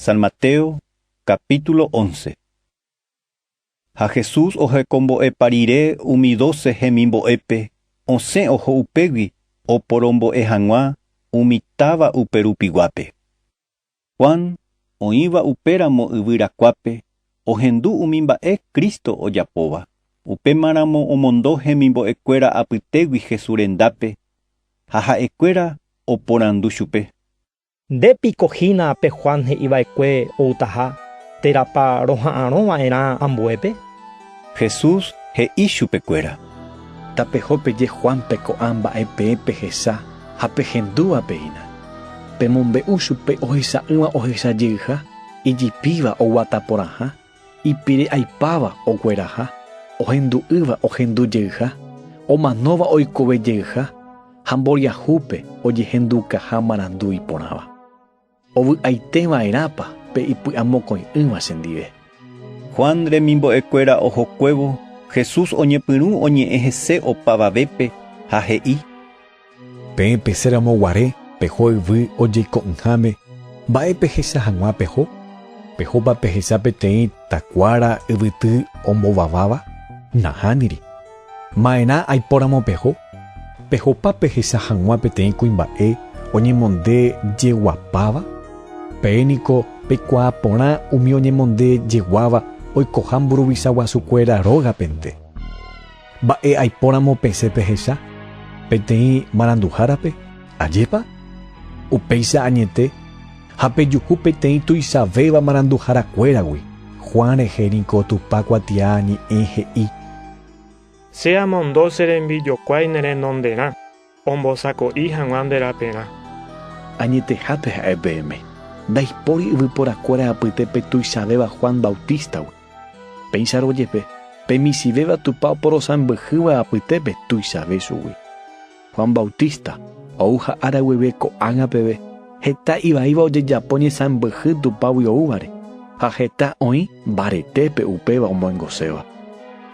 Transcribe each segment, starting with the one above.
San Mateo, capítulo once. Ha Jesús ohekombo'épa rire umi doce hemimbo'épe, osẽ oho upégui oporombo'e hag̃ua umi táva uperupiguápe. Juan, oĩva upéramo yvyrakuápe, ohendu umi mba'e Cristo ojapóva, upémaramo omondo hemimbo'ekuéra apytégui Jesús rendápe, ha ha'ekuéra oporandu chupe, Nde piko hína pe Juan he'i va'ekue outaha, térãpa roha'arõ va'erã ambuépe? Jesús he'i chupekuéra. Tapeho peje Juánpe ko'ã mba'e peẽ pehecha ha pehendúva péina. Pemombe'u chupe ohecha'ỹva ohecha jeyha, ijipíva oguata porãha, Ipire'aipáva ogueraha, ohendu'ýva ohendu jeyha, omanóva oikove jeyha ha mboriahúpe ojehendukaha marandu iporãva. Ovy'aite va'erãpa pe ipy'amokõi'ỹva chendive? Juan remimbo'ekuéra ohokuévo, Jesús oñepyrũ oñe'ẽ hese opavavépe ha he'i: Peẽ pese ramo guare peho yvy ojeiko'ỹháme, mba'e pehecha hag̃ua peho? Pehopa pehecha peteĩ takuára yvyty ombovaváva? Nahániri. Ma'erã aipóramo peho? Pehopa pehecha hag̃ua peteĩ kuimba'e oñemonde jeguapáva? Peẽ niko peikuaa porã umi oñemonde jeguáva oikoha mburuvicha guasukuéra rógapente. Mba'e aipóramo pesẽ pehecha peteĩ maranduhárape? Ajépa? Upéicha añete ha pejuhu peteĩ tuichavéva maranduharakuéragui, Juan rehe niko Tupã kuatiaa ñe'ẽ he'i. Che amondo che rembijokuái ne renonderã, Ombosako'i hag̃ua nde raperã. Añetehápe ha'e peẽme, ndaipóri yvyporakuéra apyte pe tuichavéva Juan Bautístagui. Péicharõ jepe, pe michĩvéva Tupã oporosãmbyhýva apytépe tuichave chugui. Juan Bautista ou ha ára guive ko'ágã peve, Heta ivaíva ojejapo ñesãmbyhy Tupãgui oúvare, ha heta oĩ mbaretépe upéva omyengoséva.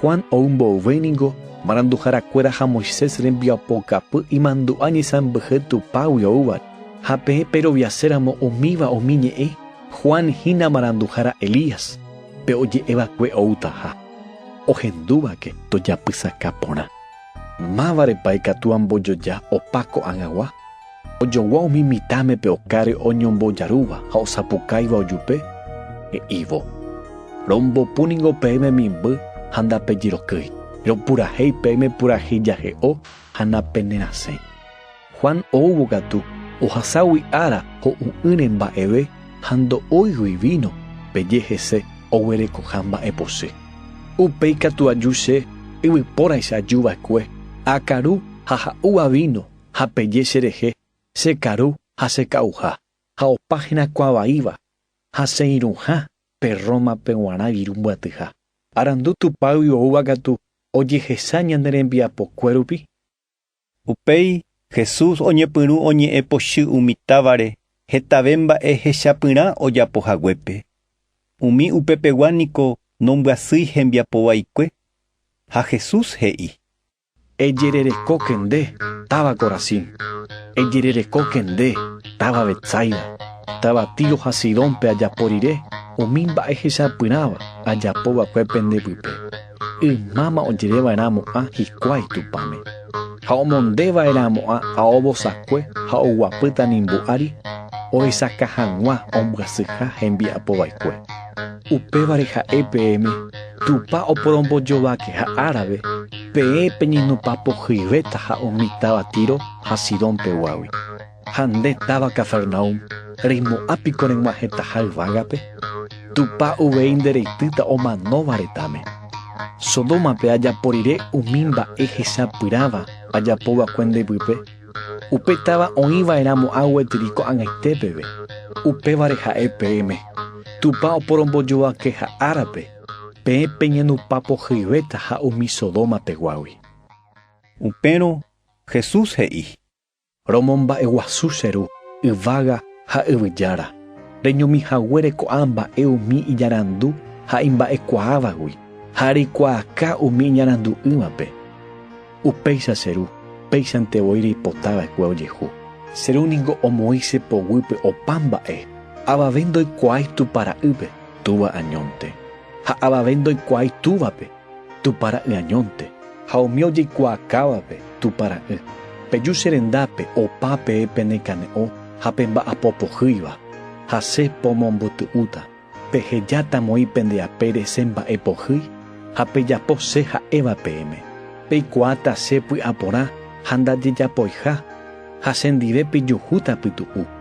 Juan ou mboyve ningo maranduharakuéra ha Moisés rembiapokapy imandu'a ñesãmbyhy Tupãgui oúvare. Ha peẽ peroviaséramo umíva umi ñe'ẽ, Juan hína maranduhára Elías, pe oje'eva'ekue oútaha. Ohendúvake tojapysaka porã. Mávarepa ikatu ambojoja opa ko'ag̃agua? Ojogua umi mitãme pe okáre oñombojarúva ha osapukáiva ojupe, he'ívo, Rombopu ningo peẽme mimby ha ndapejyrokýi, ropurahéi peẽme purahéi jahe'o ha napenerasẽ. Juan oúvo katu, ohaságui ára ho'u'ỹre mba'eve ha ndo'óigui víno, peje hese oguerekoha mba'epochy. Upéi katu aju che, yvypóraicha ajuva'ekue, akaru ha ha'úva víno ha peje cherehe che karu ha che ka'uha, ha opa herakuã vaíva, ha che irũha pe Rómape g̃uarã viru mbyatyha. Arandu Tupãgui oúva katu ojehecha ñane rembiapokue rupi. Upéi Jesús oñepyrũ oñe'ẽ pochy umi távare hetave mba'e hechapyrã ojapo haguépe. Umi upepegua niko nombyasýi hembiapo vaikue, ha Jesús he'i, Ejererekóke nde, táva Corazín! Ejererekóke nde, táva Betsaida! Táva Tiro ha Sidónpe ajapo rire umi mba'e hesapyrãva ajapo va'ekue pende pype, ymáma ojere va'erãmo'ã hikuái Tupãme, ha omonde va'erãmo'ã ao vosakue ha oguapýta nimbo ári ohesakã hag̃ua ombyasyha hembiapo va'ekue. Upévare ha'e peẽme Tupã oporombojovakeha árape, peẽ peñenopapohyivéta ha umi táva Tiro ha Sidón peguágui. Ha nde táva Cafarnaúm, reimo'ã piko reg̃uahẽtaha yvágape? Tupã uvei nde reitýta omanóva retãme. Sodómape ajapo rire umi mba'e hesapyrãva ajapova'ekue nde vype. Upe táva oĩva'erãmo água yty ko'ag̃aite peve, upévare ha'e peẽme, Tupã oporombojovake ha árape, peẽ peñenupa pohyivéta ha umi Sodoma peguágui. Upérõ Jesús he'i. Romomba'eguasu che ru, yvága ha yvyjára, reñomi haguére ko'ã mba'e umi iñarandu ha imba'ekuaávagui, ha reikuaaka umi iñarandu'ỹvape. Upéicha che ru, péichante voi reipota va'ekue ojehu. Che ru ningo omoĩ che poguýpe opa mba'e, avave ndoikuaái Tupã ra'ýpe, Túva añónte, ha avave ndoikuaái Túvape, Tupã ra'y añónte, ha umi ojeikuaakãvape, Tupã ra'y. Peju che rendápe opa peẽ penekane'õ ha pemba'apo pohýiva, ha che pomombyty'úta. Pehejáta moi pende apére che mba'e pohýi ha pejapo che ha'éva peẽme. Peikuaáta che py'aporã ha ndajejapoiha, ha chendive pejuhúta pytu'u.